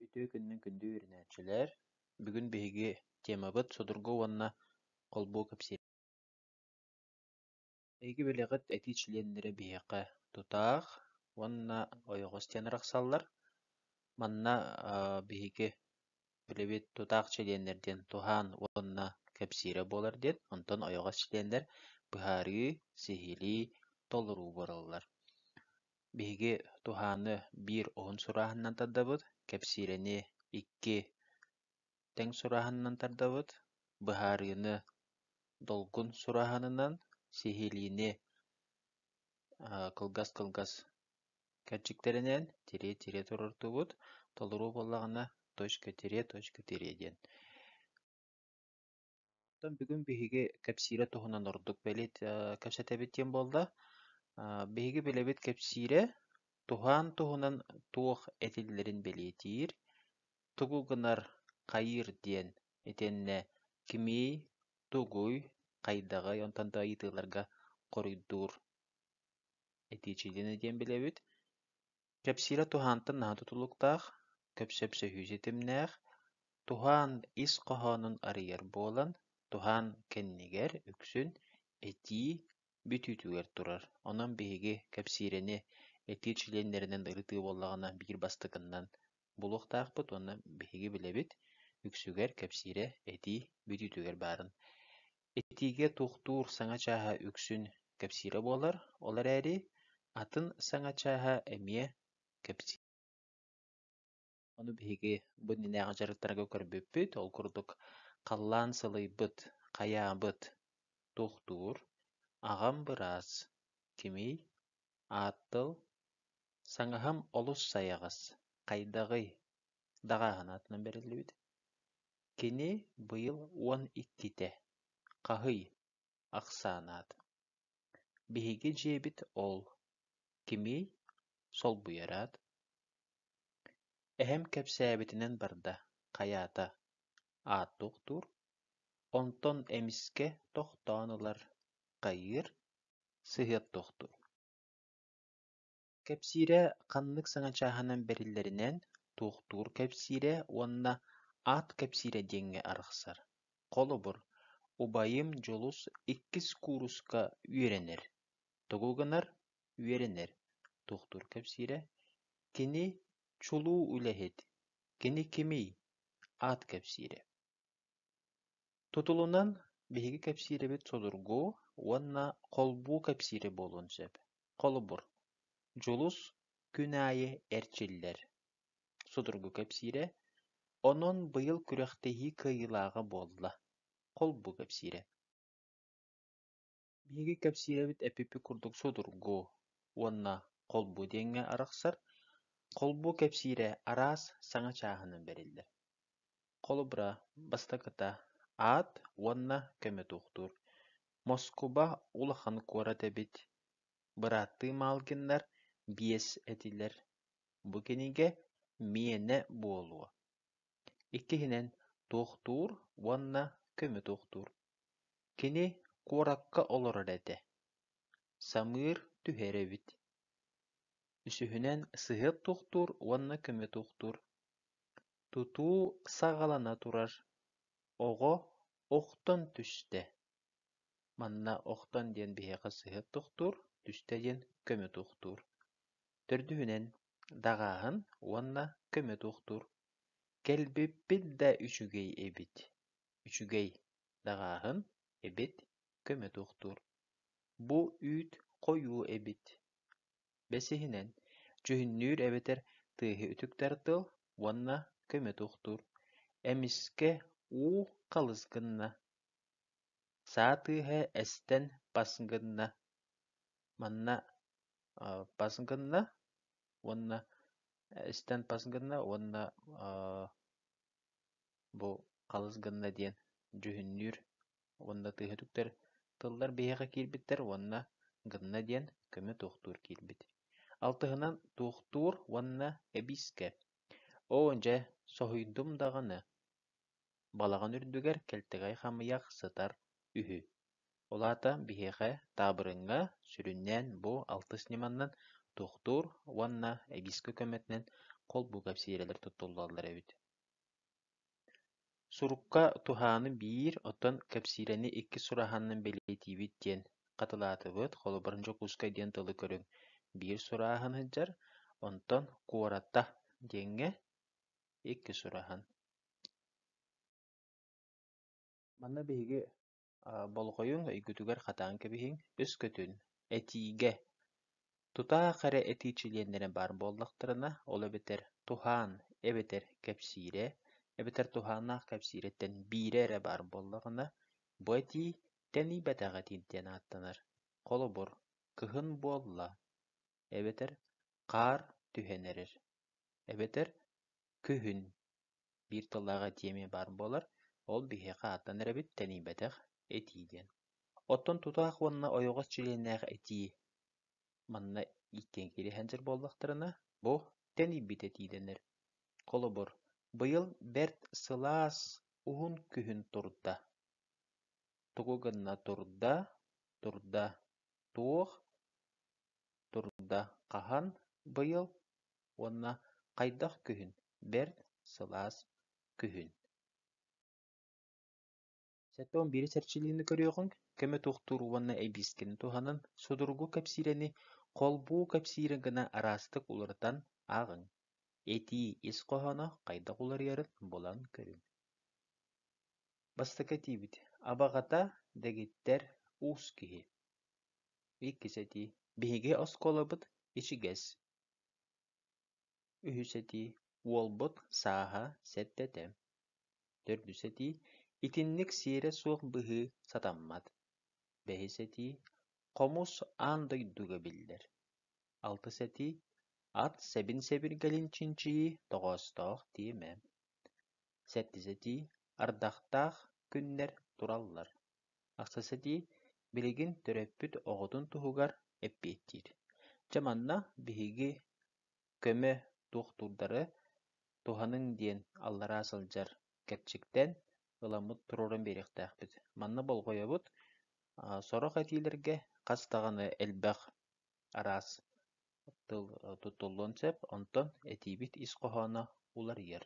Үтүө күнүнэн күндү үөрэнээччилэр! Бүгүн биһиги темабыт судургу уонна холбуу кэпсиир. Эһиги бэлэҕит этии чилиэннэрэ биһиэхэ тутаах уонна ойоҕо истиэн арахсаллар. Манна биһиги үлэбит тутаах чилиэннэр диэн туһаан уонна кэпсиирэ буолар диэн, онтон ойоҕос чилиэннэр быһаарыы, сиһилии, толоруу буолаллар. Биһиги туһааны биир уһун сурааһынынан тардабыт, кэпсиирэни икки тэҥ сурааһынынан тардабыт, быһаарыыны долгун сурааһынынан, сиһилиини кылгас-кылгас кэрчиктэринэн тирие-тирие туруортубут, толоруу буоллаҕына точка-тирие, точка-тирие диэн. Оттон бүгүн биһиги кэпсиирэ туһунан ордук бэлиит кэпсэтэбит диэн буолла. Биһиги билэбит кэпсиирэ туһаан туһунан туох этиллэрин бэлиэтиир, тугу гынар, хайыыр диэн итиэннэ кимий, тугуй, хайдаҕый, онтон да ыйытыыларга хоруйдуур этииччитинэ диэн билэбит. Кэпсиирэ туһаантан наһаа тутулуктаах, көпсөпсөһүү ситимнээх, туһаан ис хоһоонун арыйар буолан, туһаан кэннигэр үксүн этии бүтүүтүгэр турар. Онон биһиги кэпсиирэни этии чилиэннэринэн ырытыы буоллаҕына биир бастакынан булуохтаахпыт уонна биһиги билэбит үксүгэр кэпсиирэ этии бүтүүтүгэр баарын. Этиигэ туохтуур саҥа чааһа үксүн кэпсиирэ буолар, ол эрээри атын саҥа чааһа эмиэ кэпсиир. Ону биһиги бу иннинээҕи дьарыктарга көрбүппүт, ол курдук халлаан сылыйбыт, хайаабыт туохтуур, аҕам быраас, кимий, ааттыл, саҥаһым олус сайаҕас, хайдаҕый? даҕааһын аатынан бэриллибит. Кини быйыл уон иккитэ, хаһый, ахсаанаат, биһиги дьиэбит ол, кимий, солбуйараат, эһэм кэпсээбитинэн барда, хайаата, аат туохтуур, онтон эмискэ тохтоон ылар, хайыыр, сыһыар туохтуур Кэпсиирэ ханнык саҥа чааһынан бэриллэринэн туохтуур кэпсиирэ уонна аат кэпсиирэ диэҥҥэ арахсар. Холобур, убайым Дьулус иккис кууруска үөрэнэр. Тоҕо гынар үөрэнэр. Туохтуур кэпсиирэ кини чулуу үлэһит, кини кимий? аат кэпсиирэ. Тутулунан биһиги кэпсиирэбит судургу уонна холбуу кэпсиирэ буолуон сөп. Холобур, Дьулус күн аайы эрчиллэр. Судургу кэпсиирэ. Онон быйыл күрэхтэһии кыайыылааҕа буолла. Холбуу кэпсиирэ. Биһиги кэпсиирбит эпипи курдук судургу уонна холбу диэҥҥэ арахсар, холбу кэпсиирэ араас саҥа чааһынан бэриллэр. Холобура, бастакыта аат уонна көмө туохтуур. Москуба улахан куорат эбит. Бырааттыы Малгиннар биэс этилэр. Бу кинигэ миэнэ буолуо. Иккиһинэн, туохтуур уонна көмө туохтуур. Кини куоракка олорор этэ. Самыыр түһэр эбит. Үсүһүнэн, сыһыан туохтуур уонна көмө туохтуур. Тутуу саҕалана турар. Оҕо охтон түстэ. Манна охтон диэн биһиэхэ сыһыан туохтуур, түстэ диэн көмө туохтуур. Төрдүһүнэн, даҕааһын уонна көмө туохтуур. Кэлбиппит да үчүгэй эбит. Үчүгэй, даҕааһын, эбит, көмө туохтуур. Бу үүт хойуу эбит. Бэсиһинэн, дьүһүннүүр эбэтэр тыаһы үтүктэр тыл уонна көмө туохтуур. Эмискэ уу халыс гынна. Саа тыаһа эстэн бас гынна. Манна пас гынна уонна истэн пас гынна уонна бу халыс гынна диэн дьүһүннүүр уонна тыаһытыктар тыллар биһиэхэ киирбиттэр уонна гынна диэн көмө туохтуур киирбит алтыһынан туохтуур уонна эбиискэ оо дьэ соһуйдум даҕаны Балаҕан үрдүгэр кэлтэҕэй хамыйах сытар үһү, ол аата биһиэхэ таабырыҥҥа сүрүннээн бу алтыс ньыманан туохтуур уонна эгискэ көмөтүнэн холбуу кэпсиирэлэр туттуллаллар эбит Сурукка туһааны биир, оттон кэпсиирэни иккис сурааһанынан бэлиэтиибит диэн хатылаатыбыт, холобурун Дьокуускай диэн тылы көрүҥ биир сурааһын сылдьар, онтон куората диэҥҥэ иккис ураһан Манна биһиги болҕойуҥ, өйгүтүгэр хатаан кэбиһиҥ, өскөтүн этиигэ тутаах эрэ этии чилиэннэрэ баар буоллахтарына, ол эбэтэр туһаан эбэтэр кэпсиирэ эбэтэр туһааннаах кэпсиирэттэн биирэ эрэ баар буоллаҕына, бу этии тэнийбэтэх этии диэн ааттанар. Холобур, кыһын буолла. эбэтэр хаар түһэн эрэр, эбэтэр күһүн биир тыллааҕа этиэмиэ баар буолар, ол биһиэхэ ааттанар эбит, тэнийбэтэх этии диэн. Оттон тутаах уонна ойоҕос чилиэннээх этии манна иккиэн кириэһэндьэр буоллахтарына, бу тэнийбит этии дэнэр. Холобур, быйыл бэрт сылаас уһун күһүн турда. Тугу гынна турда, турда туох турда хаһан быйыл уонна хайдах күһүн бэрт сылаас күһүн сэттэ уон биирис эрчиллиини көрүөҕүҥ көмө туохтуур уонна эбиискини туһанан судургу кэпсиирэни холбуу кэпсиирэ гына араастык уларытан ааҕыҥ этии ис хоһооно хайдах уларыйарын булан көрүҥ Бастакы этиибит «Абаҕата» дэгиттэр уус киһи. Иккис этии «Биһиги оскуолабыт ичигэс». Үһүс этии «Уолбут сааһа сэттэтэ». Төрдүс этии «Итинник сиэрэ суох быһыы сатаммат». Бэһис этии «Хомус аан дойдуга биллэр». Алтыс этии «Ат сэбин сэбиргэлин чинчийии тоҕоостоох тиэмэ». сэттисэтии ардахтаах күннэр тураллар, ахсассатии билигин төрөппүт оҕотун туһугар эппиэттиир. Дьэ манна биһиги көмө туохтуурдары туһаныҥ диэн аллараа сылдьар кэрчиктэн ыламмыт туруоран биэриэхтээхпит. Манна болҕойобут, сорох этиилэргэ хас даҕаны элбэх араас тыл тутуллуон сөп, онтон этиибит ис хоһооно уларыйар.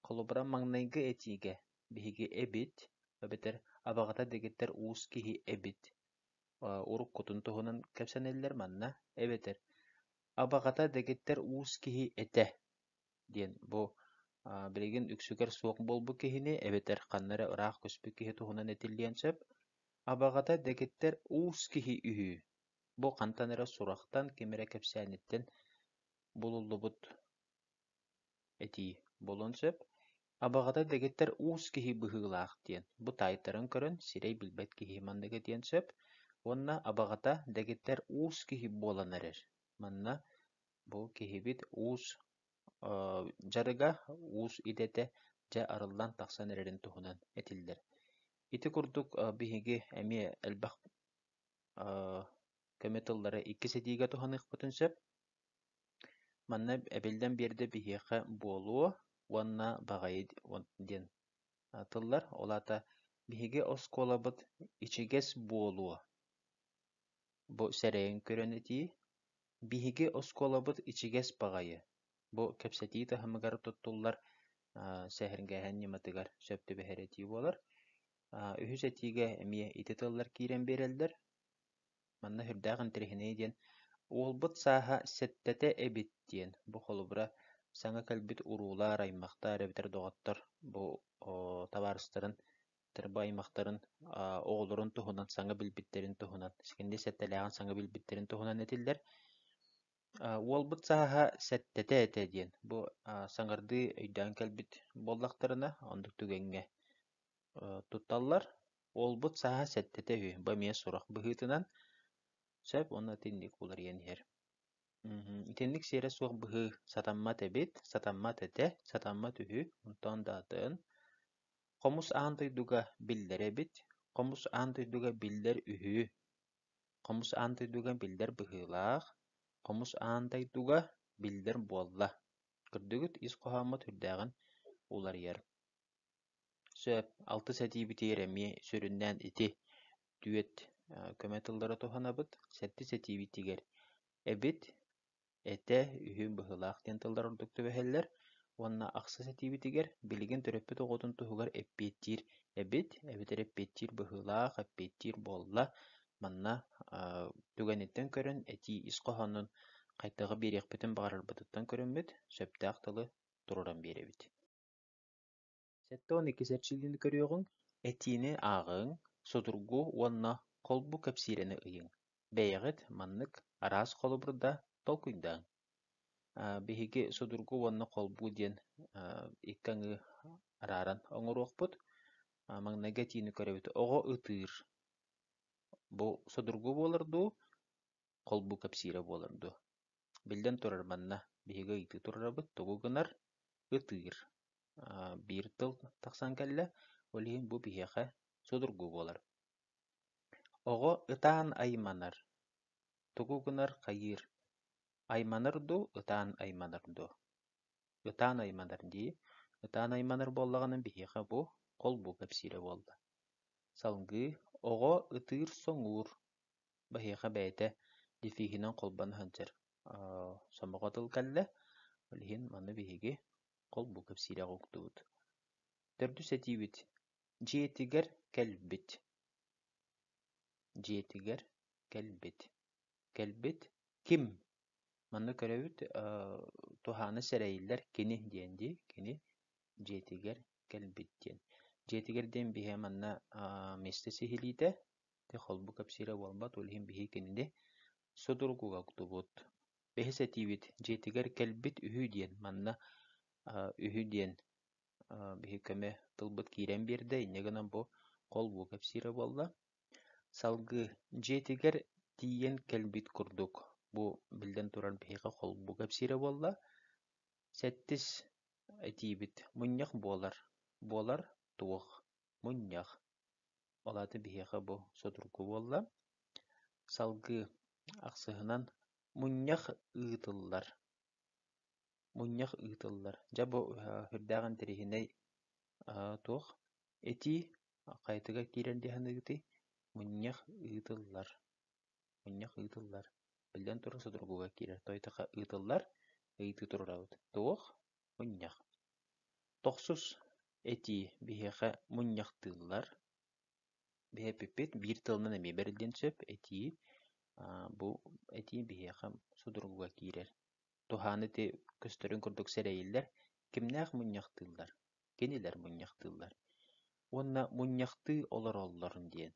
Холобура, маҥнайгы этиигэ биһиги «эбит» эбэтэр «абаҕата» дэгиттэр уус киһи «эбит» урут кутун туһунан кэпсэнэллэр манна, эбэтэр «абаҕата» дэгиттэр уус киһи этэ диэн бу билигин үксүгэр суох буолбут киһини эбэтэр ханна эрэ ыраах көспүт киһи туһунан этиллиэн сөп. «Абаҕата» дэгиттэр уус киһи үһү Бу хантан эрэ сурахтан, ким эрэ кэпсээниттэн булуллубут этии буолуон сөп. Абаҕата дэгиттэр уус киһи быһыылаах диэн, бу таайтаран көрөн сирэй билбэт киһи манныга диэн сөп. Уонна абаҕата дэгиттэр уус киһи буолан эрэр. Манна бу киһибит уус дьарыга, уус идэтэ дьэ арыллан тахсан эрэрин туһунан этиллэр. Ити курдук биһиги эмиэ элбэх көмө тыллары иккис этиигэ туһаныахпытын сөп. Манна эбиллэн биэрдэ биһиэхэ буолуо уонна баҕайы диэн тыллар. Ол аата биһиги оскуолабыт ичигэс буолуо. Бу сэрэйэн көрөн этии. Биһиги оскуолабыт ичигэс баҕайы. Бу кэпсэтии таһымыгар туттуллар сэһэргээһин ньыматыгар сөп түбэһэр этии буолар. Үһүс этиигэ эмиэ ити тыллар киирэн биэрэллэр. Манна сүрдээх интэриэһинэй диэн «Уолбут сааһа сэттэтэ эбит» диэн бу холобура саҥа кэлбит уруулар, аймахтар эбэтэр доҕоттор бу табаарыстарын бу аймахтарын оҕолорун туһунан саҥа билбиттэрин туһунан сикэнди сэттэлээҕин саҥа билбиттэрин туһунан этиллэр. «Уолбут сааһа сэттэтэ этэ» диэн бу саҥардыы өйдөөн кэлбит буоллахтарына, оннук түгэҥҥэ тутталлар. Уолбут сааһа сэттэтэ үһү, бу эмиэ сурах быһыытынан сөп уонна итинник уларыйан иһэр. Итинник сиэрэ суох быһыы сатаммат эбит, сатаммат этэ, сатаммат үһү, онтон да атын. Хомус аан дойдуга биллэр эбит, хомус аан дойдуга биллэр үһү, хомус аан дойдуга биллэр быһыылаах, хомус аан дойдуга биллэр буолла. Көрдүгүт, ис хоһооммут үрдээҕин уларыйар. Сөп, алтыс этиибитигэр эмиэ сүрүннээн ити дуэт көмө тыллара туһанабыт, сэттис этиибитигэр эбит, этэ, үһү быһыылаах диэн тыллар ордук түбэһэллэр уонна ахсыс этиибитигэр билигин төрөппүт оҕотун туһугар эппиэттиир эбит, эбэтэр эппиэттиир быһыылаах, эппиэттиир буолла. Манна түгэниттэн көрөн этии ис хоһоонун хайдах биэриэхпитин баҕарарбытыттан көрүммүт, сөптөөх тылы туруоран биэрэбит. Сэттэ уон иккис эрчиллиини көрүөҕүҥ, этиини ааҕыҥ, судургу уонна холбу кэпсиирэни ыйыҥ, бэйэҕит маннык араас холобур да толкуйдааҥ. Биһиги судургу уонна холбуу диэн икки аҥыы арааран оҥоруохпут. Маҥнайгы этиини көрөбүт оҕо ытыыр. Бу судургу буолар дуу, холбуу кэпсиирэ буолар дуо? Биллэн турар, манна биһиги ыйытыы турарабыт тугу гынар? Ытыыр. Биир тыл тахсан кэллэ, ол иһин бу биһиэхэ судургу буолар. Оҕо ытаан айманар. Тугу гынар хайыыр? Айманар дуу, ытаан айманар дуу? Ытаан айманар дии. Ытаан айманар буоллаҕына биһиэхэ бу холбуу кэпсиирэ буолла. Салгыы оҕо ытыыр-соҥуур. Биһиэхэ бэйэтэ литииһинэн холбоно сылдьар сомоҕо тыл кэллэ, ол иһин маны биһиги холбуу кэпсиирэҕэ уктубут. Төрдүс этиибит дьиэтигэр кэлбит. Дьиэтигэр кэлбит. Кэлбит ким? Манна көрөбүт туһаана сэрэйиллэр кини диэн дии. Кини дьиэтигэр кэлбит диэн. Дьиэтигэр диэн биһиэхэ манна миэстэ сиһилиитэ, Ити холбу кэпсиирэ буолбат, ол иһин биһиги кинини судургуга уктубут. Бэһис этиибит дьиэтигэр кэлбит үһү диэн манна үһү диэн биһи көмө тылбыт киирэн биэрдэ, инньэ гынан бу холбуу кэпсиирэ буолла. Салгыы дьиэтигэр тиийэн кэлбит курдук бу биллэн турар биһиэхэ холбуу кэпсиирэ буолла. Сэттис этиибит мунньах буолар. Буолар туох? мунньах. Ол аата биһиэхэ бу судургу буолла. Салгыы ахсыһынан мунньах ыытыллар. Мунньах ыытыллар. Дьэ бу сүрдээх интэриэһинэй туох этии хайытыга киирэр дии саныыгытый? Мунньах ыытыллар. Мунньах ыытыллар. Биллэн турар судургуга киирэр. Тойотохо ыытыллар, ыйытыы турарабыт. Туох? мунньах Тохсус этии биһиэхэ мунньахтыыллар Биһэпиппит биир тылынан эмиэ бэриллиэн сөп этии бу этии биһиэхэ судургуга киирэр туһаан ити көстөрүн курдук сэрэйиллэр кимнээх мунньахтыыллар кинилэр мунньахтыыллар уонна мунньахтыы олороллорун диэн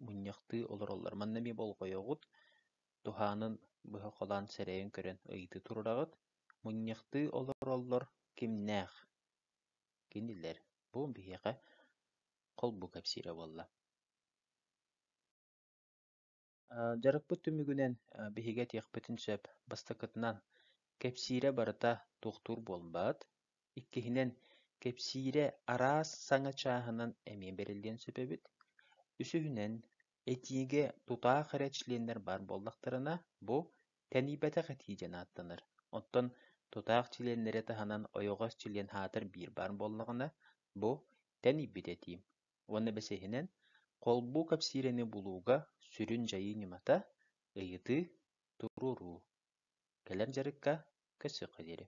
мунньахтыы олороллор. Манна эмиэ болҕойоҕут, туһаанын быһа холоон сэрэйэн көрөн ыйытыы туруораҕыт. Мунньахтыы олороллор кимнээх? Кинилэр «Бу биһиэхэ холбуу кэпсиирэ буолла». Дьарыкпыт түмүгүнэн биһиги этиэхпитин сөп. Бастакытынан, кэпсиирэ барыта туохтуур буолбат. Иккиһинэн, кэпсиирэ араас саҥа чааһынан эмиэ бэриллиэн сөп эбит. Үсүһүнэн, этиигэ тутаах эрэ членнэр баар буоллахтарына, бу тэнийбэтэх этии диэн ааттанар. Оттон тутаах членнэри таһынан ойоҕос чилиэн аатыр биир баар буоллаҕына, бу тэнийбит этии. Уонна бэсиһинэн, холбуу кэпсиирэни булууга сүрүн дьайыы ньымата ыйытыы, туруоруу. Кэлэр дьарыкка көрсүөххэ диэри.